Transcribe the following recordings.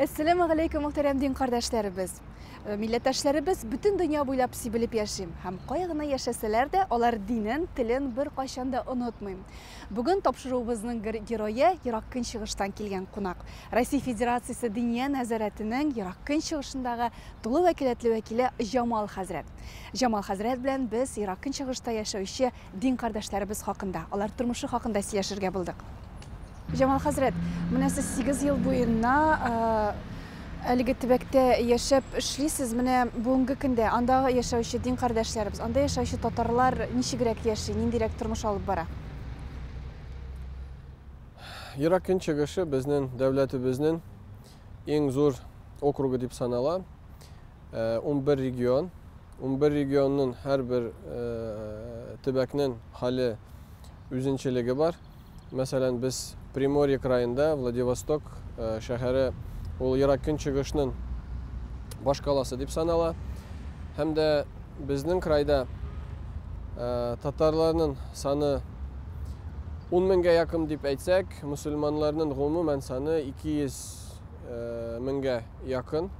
Әссәләмү галәйкүм, мөхтәрәм дин кардәшләребез. Э, милләттәшләребез бөтен дөнья буйлап сибелеп яши һәм кая гына яшәсәләр дә, алар динен, телен бер кайчан да онытмый. Бүген тапшыруыбызның герое Ерак Көнчыгыштан килгән кунак. Россия Федерациясе Диния нәзарәтенең Ерак Көнчыгышындагы тулы вәкаләтле вәкиле Җамал хәзрәт. Җамал хәзрәт белән без Ерак Көнчыгышта яшәүче Дин кардәшләребез хакында, алар тормышы хакында сөйләшергә булдык. Җамал хәзрәт, менә сез 8 ел буена әлеге төбәктә яшәп эшлисез. Менә бүгенге көндә анда яшәүче дин кардәшләребез, анда яшәүче татарлар ничегрәк яши, ниндирәк тормыш алып бара? Ерак көнчыгышы безнең дәүләтебезнең Иң зур округы дип санала. 11 регион. 11 регионның һәрбер төбәкнең хәле үзенчәлеге бар. Мәсәлән, без Приморье краенда Владивосток шәһәре ул ерак көнчыгышның баш каласы дип санала. Һәм дә безнең крайда татарларның саны 10 меңгә якын дип әйтсәк, Мөселманнарның гомумән саны 200 меңгә якын.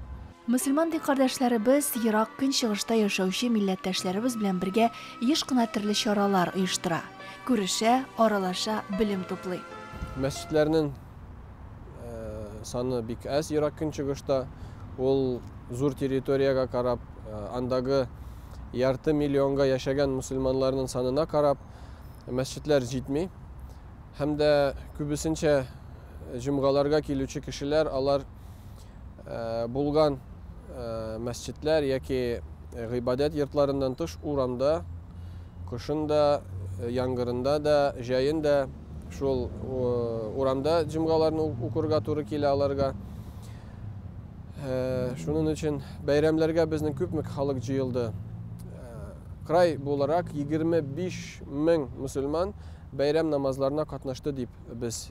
Мөселман ди кардәшләребез ерак Көнчыгышта яшәүче милләттәшләребез белән бергә еш кына төрле чаралар оештыра. Күрешә, аралаша, белем туплый. Мәсҗидләрнең саны бик әз ерак Көнчыгышта. Ул зур территориягә карап, андагы ярты миллионга яшәгән мөселманнарның санына карап, мәсҗидләр җитми. һәм дә күбесенчә җомгаларга килүче кешеләр алар булган мәсҗидләр яки гыйбадәт йортларыннан тыш урамда кышын да яңгырында да җәен дә шул урамда җомгаларны укырга туры килә аларга шуның өчен бәйрәмләргә безнең күпме халык җыелды край буларак егерме биш мең мөселман Бәйрәм намазларына катнашты дип без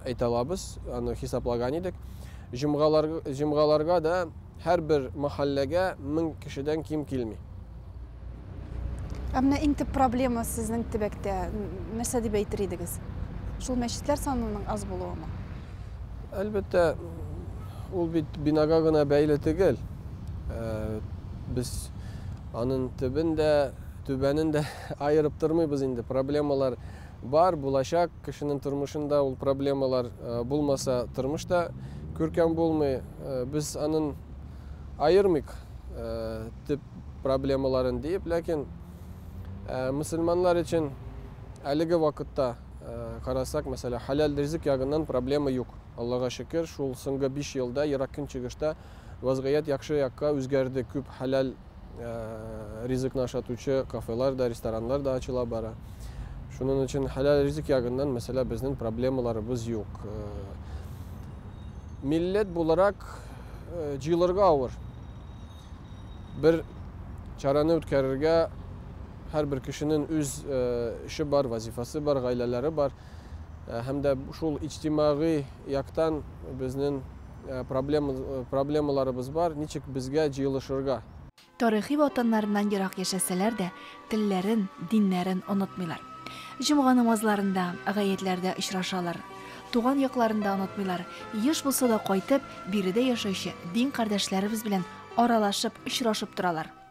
әйтә алабыз, аны хисаплаган идек. Җомгаларга да һәрбер мәхәлләгә 1000 кешедән ким килми. Ә менә иң төп проблема сезнең төбәктә нәрсә дип әйтер идегез? Шул мәчетләр санының аз булуымы? Әлбәттә, ул бит бинага гына бәйле түгел. Без аның төбен дә, түбәнен дә Аерып тормыйбыз инде, проблемалар бар, булачак. Кешенең тормышында ул проблемалар булмаса, тормыш та күркәм булмый. Без анын аермыйк төп проблемаларын диеп, ләкин мөселманнар өчен әлеге вакытта карасак, мәсәлән, хәләл ризык ягыннан проблема юк. Аллага шөкер, шул соңгы биш елда Ерак Көнчыгышта вазгыять яхшы якка үзгәрде, күп хәләл ризыкны ашатучы кафелар да, рестораннар да ачыла бара. Шунын өчен хәләл ризык ягыннан мәсәлә безнең проблемаларыбыз юк. Милләт буларак җыелырга авыр. Бер чараны үткәрергә һәрбер кешенең үз эше бар, вазифасы бар, гаиләләре бар. Һәм дә шул иҗтимагый яктан безнең Проблемаларыбыз бар, ничек безгә җыелышырга? Тарихи ватаннарыннан ерак яшәсәләр дә, телләрен, диннәрен онытмыйлар. Җомга намазларында, гаетләрдә очрашалар. Туган якларын да онытмыйлар. Еш булса да кайтып, биредә яшәүче дин кардәшләребез белән аралашып, очрашып торалар.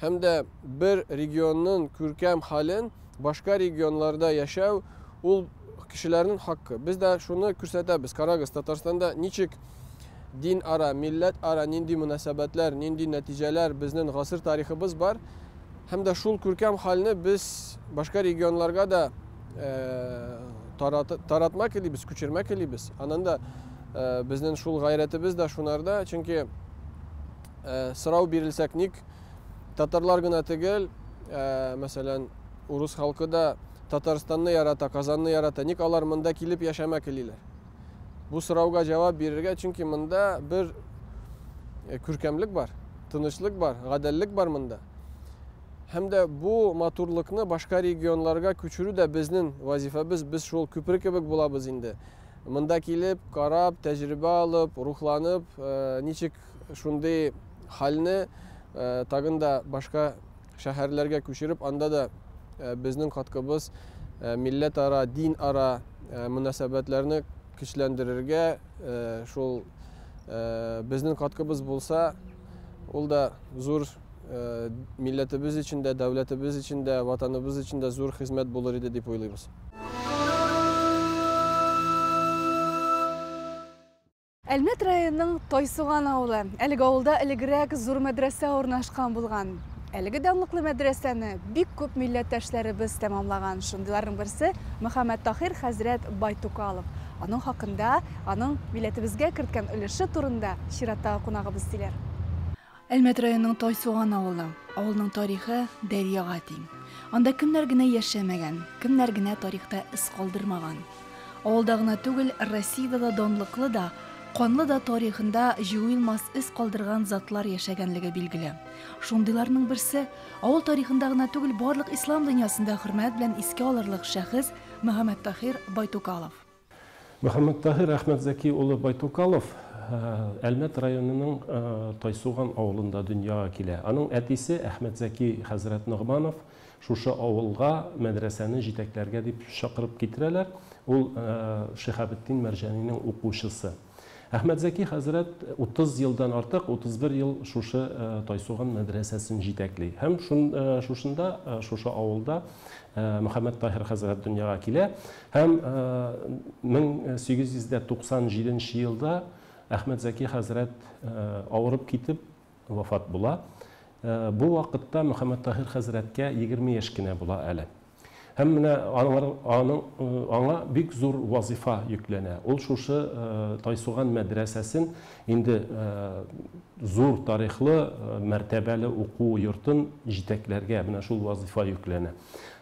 һәм дә бер регионның күркәм хален башка регионларда яшәү ул кешеләрнең хакы. Без дә шуны күрсәтәбез. Карагыз, Татарстанда ничек дин ара, милләт ара нинди мөнәсәбәтләр, нинди нәтиҗәләр безнең гасыр тарихыбыз бар. Һәм дә шул күркәм хәлне без башка регионларга да э, тарат, таратмак илибез, күчермәк илибез. Аннан да э, безнең шул гайрәтебез дә шунарда, чөнки Ә, сорау бирелсәк ник, татарлар гына тегел, ә, мәсәлән, урыс халкы да Татарстанны ярата, Казанны ярата, ник алар монда килеп яшәмә келиләр? Бу сорауга җавап бирергә, чөнки монда бер э, күркәмлек бар, тынычлык бар, гадәллек бар монда. Һәм дә бу матурлыкны башка регионларга күчерү дә безнең вазифабыз, без шул күпер кебек булабыз инде. Монда килеп, карап, тәҗрибә алып, рухланып, э, ничек Шундый хәлне тагын да башка шәһәрләргә күчереп, анда да безнең каткыбыз милләтара, динара мөнәсәбәтләрне көчләндерергә, шул безнең каткыбыз булса, ул да зур милләтебез өчен дә, дәүләтебез өчен дә, ватаныбыз өчен дә зур хезмәт булыр иде дип уйлыйбыз. Әлмәт районының Тайсуган авылы. Әлеге авылда элегрәк зур мәдрәсә урнашкан булган. Әлеге данлыклы мәдрәсәне бик күп милләттәшләребез тәмамлаган. Шундыйларның берсе Мөхәммәттаһир хәзрәт Байтукалов. Аның хакында, аның милләтебезгә керткән өлеше турында чираттагы кунагыбыз сөйләр. Әлмәт районының Тайсуган авылы. Авылның тарихы дәрьяга тиң. Анда кемнәр генә яшәмәгән, кемнәр генә тарихта эз калдырмаган. Авылда гына түгел, Россиядә дә данлыклы да, канлы да тарихында җуелмас эз калдырган затлар яшәгәнлеге билгеле. Шундыйларның берсе, авыл тарихында гына түгел, барлык ислам дөньясында хөрмәт белән искә алырлык шәхес Мөхәммәттахир Байтукалов. Мөхәммәттаһир Әхмәтзәки улы Байтукалов Әлмәт районының Тайсуган авылында дөньяга килә. Аның әтисе Әхмәтзәки хәзрәт Ногманов шушы авылга мәдрәсәне җитәкләргә дип чакырып китерәләр. Ул Шиһабетдин Мәрҗанинең укучысы. Әхмәтзәки хәзрәт утыз елдан артык, 31 ел шушы Тайсуган мәдрәсәсен җитәкли. Һәм шушында, шушы авылда Мөхәммәттаһир хәзрәт дөньяга килә. Һәм 1897 елда Әхмәтзәки хәзрәт авырып китеп, вафат була. Бу вакытта Мөхәммәттаһир хәзрәткә егерме яшь кенә була әле. Һәм менә аның аңа бик зур вазыйфа йөкләнә. Ул шушы Тайсуган мәдрәсәсен инде зур тарихлы, мәртәбәле уку йортын җитәкләргә менә шул вазыйфа йөкләнә.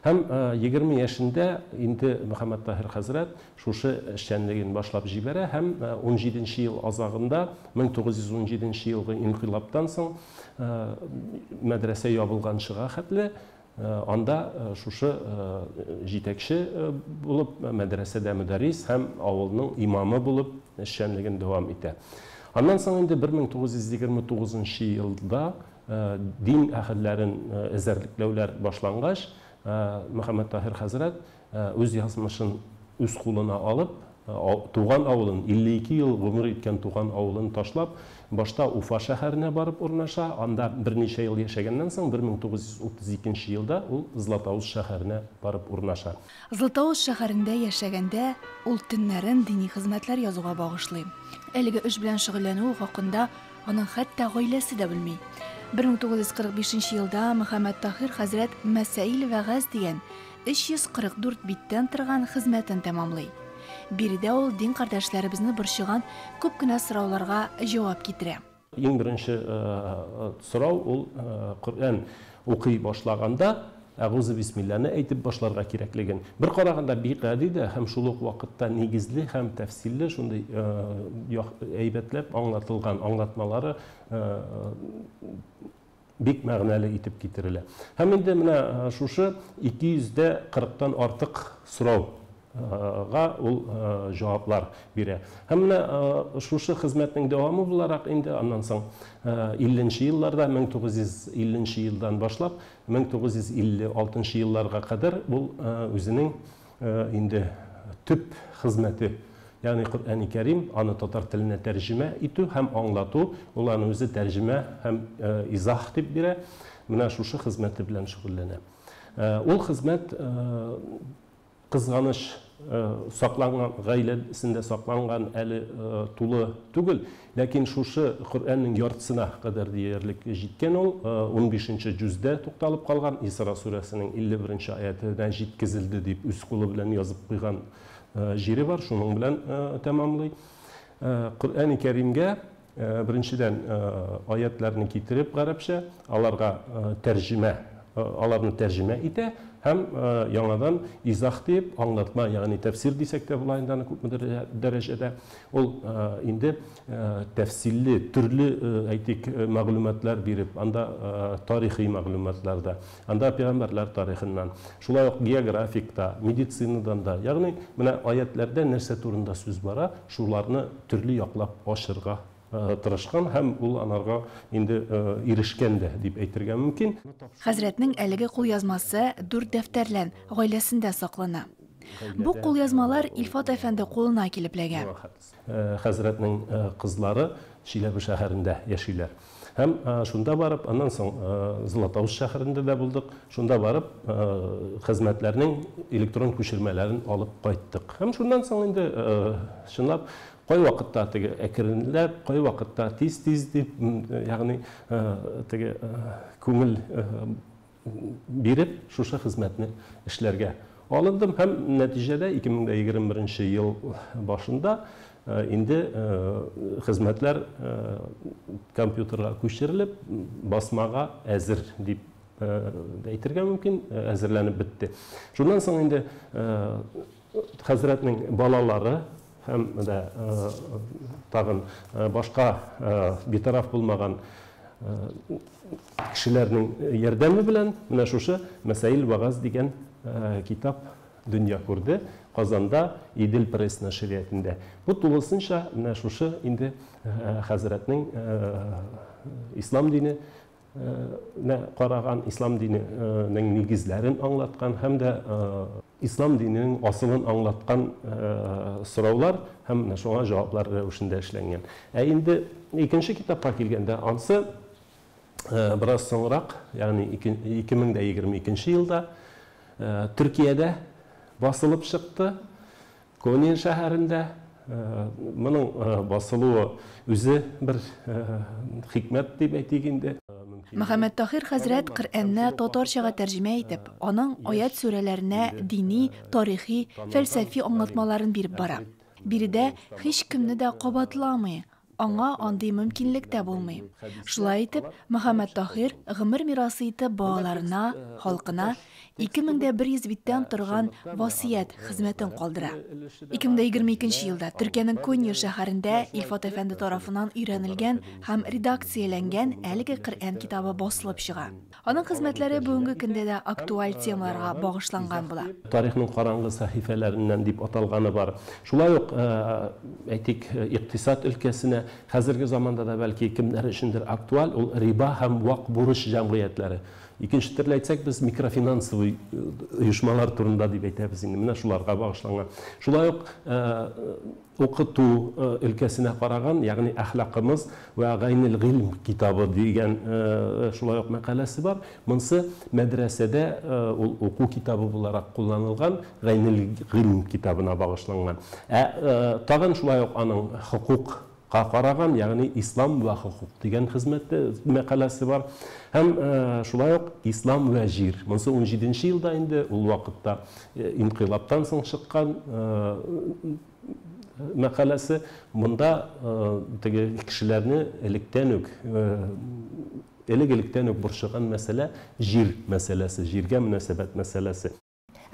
Һәм егерме яшендә инде Мөхәммәттаһир хәзрәт шушы эшчәнлеген башлап җибәрә һәм унҗиденче ел азагында, 1917 елгы инкыйлабтан соң, мәдрәсә ябылганчыга хәтле, анда шушы җитәкче булып, мәдрәсәдә мөдәррис һәм авылның имамы булып эшчәнлеген дәвам итә. Аннан соң инде 1929 елда дин әһелләрен эзәрлекләүләр башлангач, Мөхәммәттаһир хәзрәт Үз язмышын үз кулына алып, туган авылын, 52 ел гомер иткән туган авылын ташлап, башта Уфа шәһәренә барып урнаша, анда берничә ел яшәгәннән соң, 1932 нче елда ул Златоуст шәһәренә барып урнаша. Златоуст шәһәрендә яшәгәндә, ул төннәрен дини хезмәтләр язуга багышлый. Әлеге эш белән шөгыльләнүе хакында аның хәтта гаиләсе дә белми. 1945 нче елда Мөхәммәттаһир хәзрәт Мәсаил вәгазь дигән 344 биттән торган хезмәтен тәмамлый. Биредә ул дин кардәшләребезне борчыган күп кенә сорауларга җавап китерә. Иң беренче сорау ул Коръән укый башлаганда Әгузу бисмилләне әйтеп башларга кирәклеген. Бер караганда бик гади дә һәм шул ук вакытта нигезле һәм тәфсилле шундый әйбәтләп аңлатылган, аңлатмалары бик мәгънәле итеп китерелә. Һәм инде менә шушы 200 дә 40 тан артык сорау га ул җаваплар бирә. Һәм менә шушы хезмәтнең дәвамы буларак инде аннан соң 50 нче елларда, 1950 нче елдан башлап, 1956 нчы елларга кадәр ул үзенең Инде төп хезмәте, ягъни Коръәни Кәрим, аны татар теленә тәрҗемә итү һәм аңлату, ул аны үзе тәрҗемә һәм изаһ дип бирә, менә шушы хезмәте белән шөгыльләнә. Ул хезмәт, кызганыч, сакланган, гаиләсендә сакланган әле тулы түгел. Ләкин шушы Коръәннең яртысына кадәр диярлек җиткән ул, унбишенче җүздә тукталып калган, Исра сүрәсенең илле беренче аятенә җиткезелде дип үз кулы белән язып куйган җире бар, шуның белән тәмамлый. Коръәни Кәримгә, беренчедән, аятьләрне китереп гарәпчә, аларга тәрҗемә, аларны тәрҗемә итә һәм яңадан изах дип, аңлатма, ягъни тәфсир дисәк тә була инде аны күпмедер дәрәҗәдә, Ул инде тәфсилле, төрле, әйтик, мәгълүматлар биреп, анда тарихи мәгълүматлар да, анда пәйгамбәрләр тарихыннан, шулай ук географик та, медицинадан да, ягъни менә аятьләрдә нәрсә турында сүз бара, шуларны төрле яклап ачырга тырышкан һәм ул анарга инде ирешкән дә дип әйтергә мөмкин. Хәзрәтнең әлеге кулъязмасы дүрт дәфтәрлән, гаиләсендә саклана. Бу кулъязмалар Илфат әфәнде кулына килеп эләгә. Хәзрәтнең кызлары Чиләбе шәһәрендә яшиләр. Һәм шунда барып, аннан соң Златоуст шәһәрендә дә булдык, шунда барып хезмәтләрнең электрон күчермәләрен алып кайттык. Һәм шуннан соң инде чынлап кайвакытта теге әкренләп, кайвакытта тиз-тиз дип, ягъни теге күңел биреп, шушы хезмәтне эшләргә алындым һәм нәтиҗәдә 2021 ел башында инде хезмәтләр компьютерга күчерелеп, басмага әзер дип әйтергә мөмкин, әзерләнеп бетте. Шуннан соң инде Хәзрәтнең балалары һәм дә тагын башка битараф булмаган кешеләрнең ярдәме белән менә шушы Мәсаил вәгазь дигән китап дөнья күрде Казанда Идел пресс нәшриятендә. Бу тулысынча менә шушы инде хәзрәтнең ислам дине нә караган, ислам дине нең нигезләрен аңлаткан һәм дә ислам дине нең асылын аңлаткан сораулар һәм менә шуңа җаваплар рәвешендә эшләнгән. Ә инде икенче китапка килгәндә, ансы бераз соңрак, ягъни 2022 елда Төркиядә басылып чыкты. Конин шәһәрендә моның басылуы үзе бер хикмәт дип әйтик инде. Мөхәммәттаһир хәзрәт Коръәнне татарчага тәрҗемә итеп, аның аять-сүрәләренә дини, тарихи, фәлсәфи аңлатмаларын биреп бара. Биредә һичкемне дә кабатламый, Аңа андый мөмкинлек тә булмый. Шулай итеп, Мөхәммәттаһир гомер мирасы итеп балаларына, халкына 2100 биттән торган васыять хезмәтен калдыра. 2022 елда Төркиянең Конья шәһәрендә Илфат әфәнде тарафыннан өйрәнелгән һәм редакцияләнгән әлеге Коръән китабы басылып чыга. Аның хезмәтләре бүгенге көндә дә актуаль темаларга багышланган була. Тарихның караңгы сәхифәләреннән дип аталганы бар. Шулай ук, әйтик, икътисад өлкәсенә, хәзерге заманда да бәлки кемнәр өчендер актуаль, ул риба һәм вак бурыч җәмгыятьләре. Икенче төрле әйтсәк, без микрофинансовый оешмалар турында дип әйтәбез инде, менә шуларга багышланган. Шулай ук, Укыту өлкәсенә караган, ягъни Әхлакымыз вә гайнел гыйлм китабы дигән шулай ук мәкаләсе бар. Монсы мәдрәсәдә ул уку китабы буларак кулланылган, гайнел гыйлм китабына багышланган. Ә тагын шулай ук аның хокукка караган, ягъни Ислам вә хокук дигән хезмәте, мәкаләсе бар. Һәм шулай ук Ислам вә җир. Монсы унҗиденче елда инде, ул вакытта Инкыйлабтан соң чыккан мәкаләсе. Монда теге кешеләрне электән үк, элек-электән үк борчыган мәсьәлә, җир мәсьәләсе, җиргә мөнәсәбәт мәсьәләсе.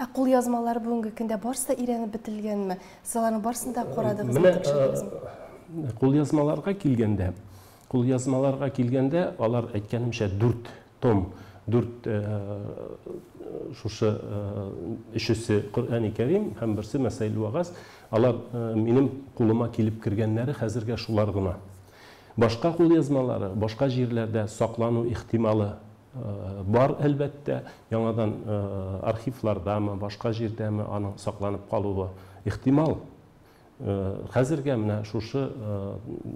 Ә кулъязмалар бүгенге көндә барысы да өйрәнеп бетелгәнме? Сез аларның барысын да карадыгызмы, тикшердегезме? Менә кулъязмаларга килгәндә, Кулъязмаларга килгәндә, алар, әйткәнемчә, дүрт том, дүрт шушы өчесе Коръәни Кәрим һәм берсе Мәсаиль Вәгазь. Алар минем кулыма килеп кергәннәре хәзергә шулар гына. Башка кулъязмалары, башка җирләрдә саклану ихтималы бар, әлбәттә. Яңадан архивлардамы, башка җирдәме аның сакланып калуы ихтимал. Хәзергә менә шушы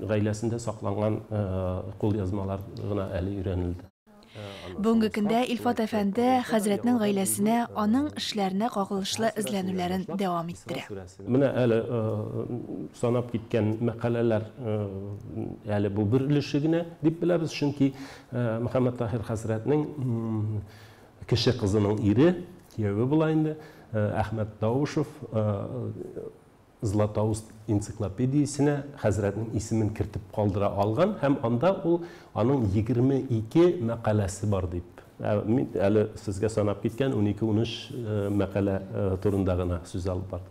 гаиләсендә сакланган кулъязмалар гына әле өйрәнелде. Бүгенге көндә Илфат әфәнде хәзрәтнең гаиләсенә, аның эшләренә кагылышлы эзләнүләрен дәвам иттерә. Менә әле санап киткән мәкаләләр әле бу бер өлеше генә дип беләбез, чөнки Мөхәммәттаһир хәзрәтнең Кече кызының ире, кияве була инде, Әхмәт Даушев Златоуст энциклопедиясенә хәзрәтнең исемен кертеп калдыра алган һәм анда ул аның егерме ике мәкаләсе бар дип. Ә мин әле сезгә санап киткән унике-унөч мәкалә турында гына сүз алып бардык.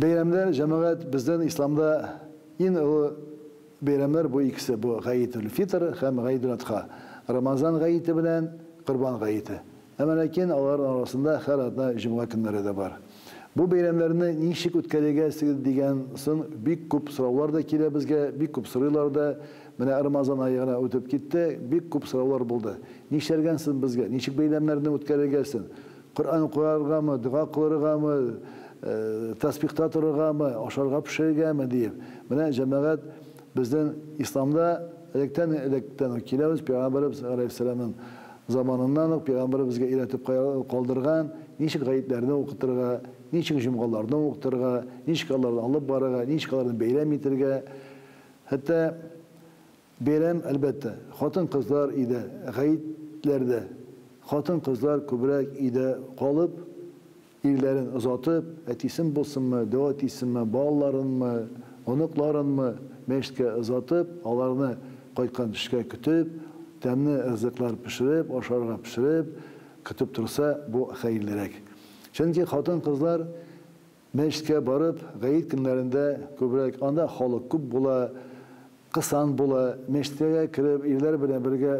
Бәйрәмнәр, җәмәгать, бездән исламда ин олы бәйрәмнәр бу икесе, бу Гаетул фитр һәм Гаидул Адха, Рамазан гаете белән Корбан гаете. Әмма ләкин аларның арасында һәр атна җомга көннәре дә бар. Бу бәйрәмнәрне ничек үткәрегә сез дигән сон бик күп сораулар да килә безгә, бик күп сорыйлар да, менә Рамазан ае гына үтеп китте, бик күп сораулар булды. Нишләргә сон безгә, ничек бәйрәмнәрне үткәрергә сон? Коръән укыргамы, дога кылыргамы, тәсбихта торыргамы, ашарга пешерергәме, диеп, менә, җәмәгать, безнең Исламда электәннән-электән үк киләбез, пәйгамбәребез галәйһиссәламнең заманыннан ук пәйгамбәребезгә өйрәтеп калдырган, ничек гаетләрне укытырга, ничек җомгаларны укытырга, ничек аларны алып барырга, ничек аларны бәйрәм итергә, хәтта, Бәйрәм, әлбәттә, хатын-кызлар өйдә, гәетләрдә. Хатын-кызлар күбрәк өйдә калып, ирләрен озатып, әтисен булсынмы, дәү әтисенме, балаларынмы, оныкларынмы, мәчеткә озатып, аларны кайткан төшкә көтеп, тәмле ризыклар пешереп, ашарга пешереп, көтеп торса, бу хәерлерәк. Чөнки хатын-кызлар Мәчеткә барып, гает көннәрендә күбрәк, анда халык күп була, кысан була. Мәчеткәгә кереп, ирләр белән бергә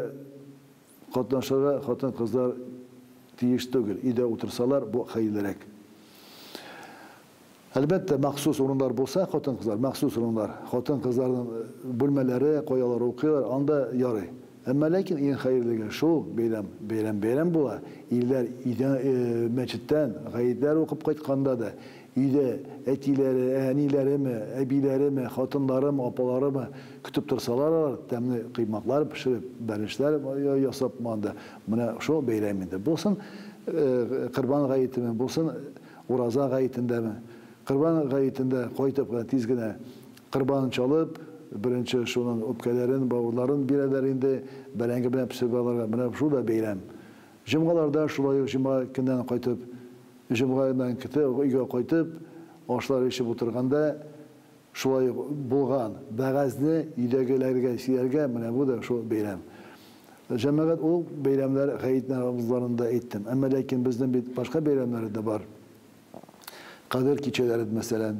катнашырга хатын-кызлар тиеш түгел, өйдә утырсалар, бу хәерлерәк. Әлбәттә, махсус урыннар булса, хатын-кызлар, махсус урыннар, хатын-кызларның бүлмәләре, кая алар укыйлар, анда ярый. Әмма ләкин иң хәерлеге шул, бәйрәм, бәйрәм бәйрәм була, ирләр өйдә, мәчеттән, гаетләр укып кайтканда да, өйдә әтиләре, әниләреме, әбиләреме, хатынларымы, апаларымы көтеп торсалар алар, тәмле коймаклар пешереп, бәлешләр ясап монда, менә шул бәйрәм инде. Булсын Корбан гаетеме, булсын Ураза гаетендәме, Корбан гаетендә кайтып кына тиз генә Корбанын чалып, беренче шуның үпкәләрен, бавырларын бирәләр инде, бәрәңге белән пешереп алырга. Менә шул да бәйрәм. Җомгаларда шулай ук җомга көннән кайтып, җомгадан кте өйгә кайтып, ашлар эчеп утырганда шулай ук булган вәгазьне өйдәгеләргә сөйләргә, менә бу да шул бәйрәм. Җәмәгать ул бәйрәмнәр гает намазларын да әйттем. Әмма ләкин безнең бит башка бәйрәмнәре дә бар. Кадер кичәләре, мәсәлән.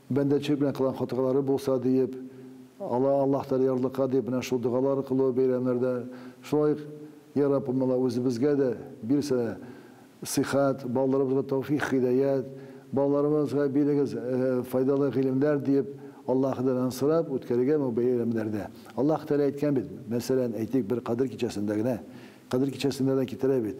Бәндәчелек белән кылган хатыгалары булса, диеп, Алла Аллаһ Тәгалә ярлыка дип менә шул догалар кылу бәйрәмнәрдә, шулай ук, Йә Рабб, Алла, үзебезгә дә бирсәлә, сыйхәт, балаларыбызга тәүфигъ, һидаять, балаларыбызга бирегез файдалы гыйлемнәр, диеп, Аллаһыдан сорап үткәрергә бу бәйрәмнәрдә. Аллаһ Тәгалә әйткән бит, мәсәлән, әйтик, бер Кадер кичәсендә генә, Кадер кичәсендә дә китерә бит,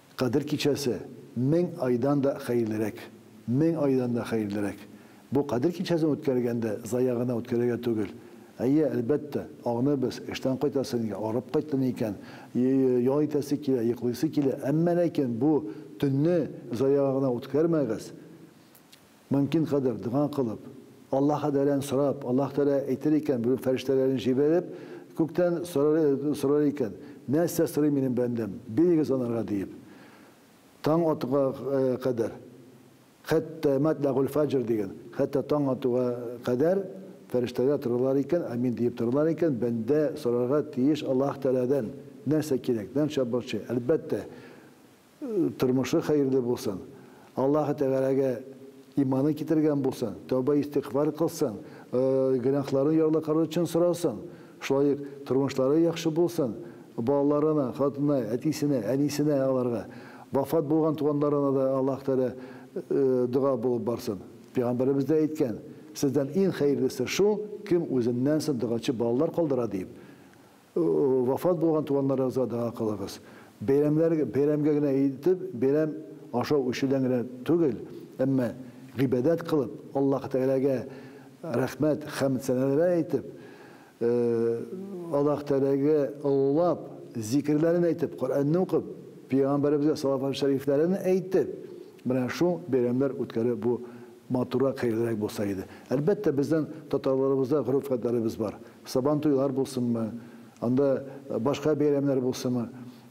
Кадер кичәсе, мең айдан да хәерлерәк. Мең айдан да хәерлерәк. Бу Кадер кичәсен үткәргәндә зая гына үткәрергә түгел. Әйе, әлбәттә, агъныбез, эштән кайтасы нигә, арып кайттым икән, ял итәсе килә, йоклыйсы килә, әмма ләкин бу төнне заяга гына үткәрмәгез. Мөмкин кадәр дога кылып, Аллаһ Адәлән сорап, Аллаһ Тәгалә әйтер икән, бүген фәрештәләрен җибәреп, күктән сорар икән, Нәрсә сорый минем бәндәм? Бирегез анарга, диеп. Таң атуга кадәр, хәтта Матьләгуль-фаҗр дигән, хәтта таң атуга кадәр фәрештәләр торалар икән, Амин диеп торалар икән, бәндә сорарга тиеш Аллаһ Тәгаләдән, нәрсә кирәк, нәрсә борчый. Әлбәттә, Тормышы хәерле булсын. Аллаһы Тәгаләгә иманын китергән булсын, тәүбә-истигъфар кылсын, гөнаһларын ярлыкарлар өчен сорасын. Шулай ук тормышлары яхшы булсын, балаларына, хатынына, әтисенә, әнисенә аларга, вафат булган туганнарына да Аллаһы Тәгалә дога булып барсын. Пәйгамбәребез дә әйткән, Сездән иң хәерлесе шул, кем үзеннән соң догачы балалар калдыра, диеп. Вафат булган туганнарыгызга дога кылыгыз. Бәйрәмнәр бәйрәмгә генә итеп, бәйрәм ашау-эчүдән генә түгел, әмма гыйбадәт кылып, Аллаһ Тәгаләгә рәхмәт, хәмд-сәналәр әйтеп, Аллаһ Тәгаләгә олылап, зикерләрен әйтеп, Коръәнне укып, Пәйгамбәребезгә салават-шәрифләрен әйтеп, менә шул бәйрәмнәр үткәрү бу Матуррак, хәерлерәк булса иде. Әлбәттә, бездән, татарларыбызда гореф-гадләребез бар. Сабантуйлар булсынмы, анда башка бәйрәмнәр булсымы,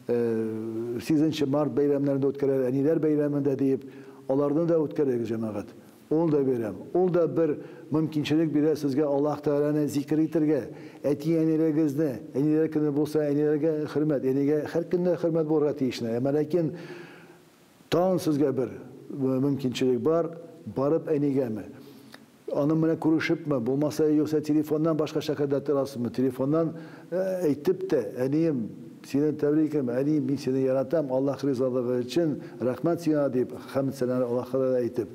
э, сигезенче март бәйрәмнәрен дә үткәрәләр, әниләр бәйрәмен дә диеп, аларны да үткәрегез, җәмәгать. Ул да бәйрәм, ул да бер мөмкинчелек бирә сезгә Аллаһ Тәгаләне зикер итергә, әти-әниләрегезне, әниләр көне булса, әниләргә хөрмәт, әнигә һәркемгә хөрмәт булырга тиешне, әмма ләкин, Тагын сезгә бер мөмкинчелек бар, барып әнигәме, аның белән күрешепме, булмаса, юкса телефоннан башка шәһәрдә торасызмы, телефоннан әйтеп тә, Әнием, сине тәбриким, әнием, мин сине яратам, Аллаһ ризалыгы өчен, рәхмәт сиңа, дип, хәмд-сәналар Аллаһка да әйтеп,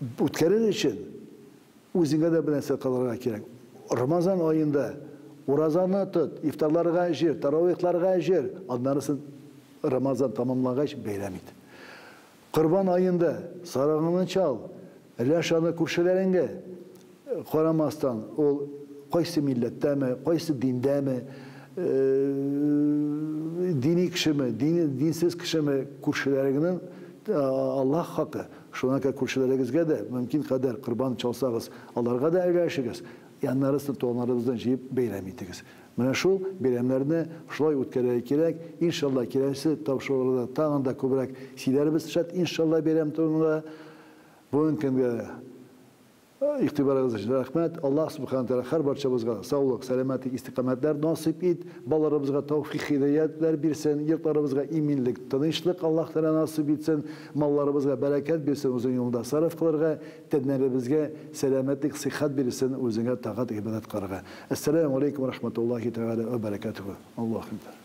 Үткәрер өчен үзеңә дә бернәрсә кылырга кирәк. Рамазан аенда уразаны тот, ифтарларга җыр, таравыйхларга җыр, аннарысын Рамазан тәмамлагач бәйрәм ит. Корбан аенда сарыгыңны чал, өләш аны күршеләреңгә. Карамастан, ул кайсы милләттәме, кайсы диндәме, дини кешеме, динсез кешеме, күршеләрегнең Аллаһ хакы, шуңа күрә күршеләрегезгә дә мөмкин кадәр корбан чалсагыз, аларга да өләшегез, яннарысын, туганнарыбызны җыеп бәйрәм итегез. Менә шул бәйрәмнәрне шулай үткәрергә кирәк. Иншалла, киләсе тапшыруларда тагын да күбрәк сөйләрбез, шәт, иншалла, бәйрәм турында. Бүгенге көнгә Игътибарыгыз өчен рәхмәт. Аллаһ Субхана Тәгалә һәр барчабызга саулык, сәламәтлек, истикамәтләр насыйп ит, балаларыбызга тәүфик хидәятләр бирсен, йортларыбызга иминлек, тынычлык Аллаһ Тәгалә насыйп итсен, малларыбызга бәрәкәт бирсен Үзенең юлында сарыф кылырга, тәннәребезгә сәламәтлек, сыйхат бирсен Үзеңә тагат, гыйбадәт кылырга. Әссәләмү галәйкүм вә рахматуллаһи тәгалә вә бәрәкәтүһү. Аллаһу әкбәр.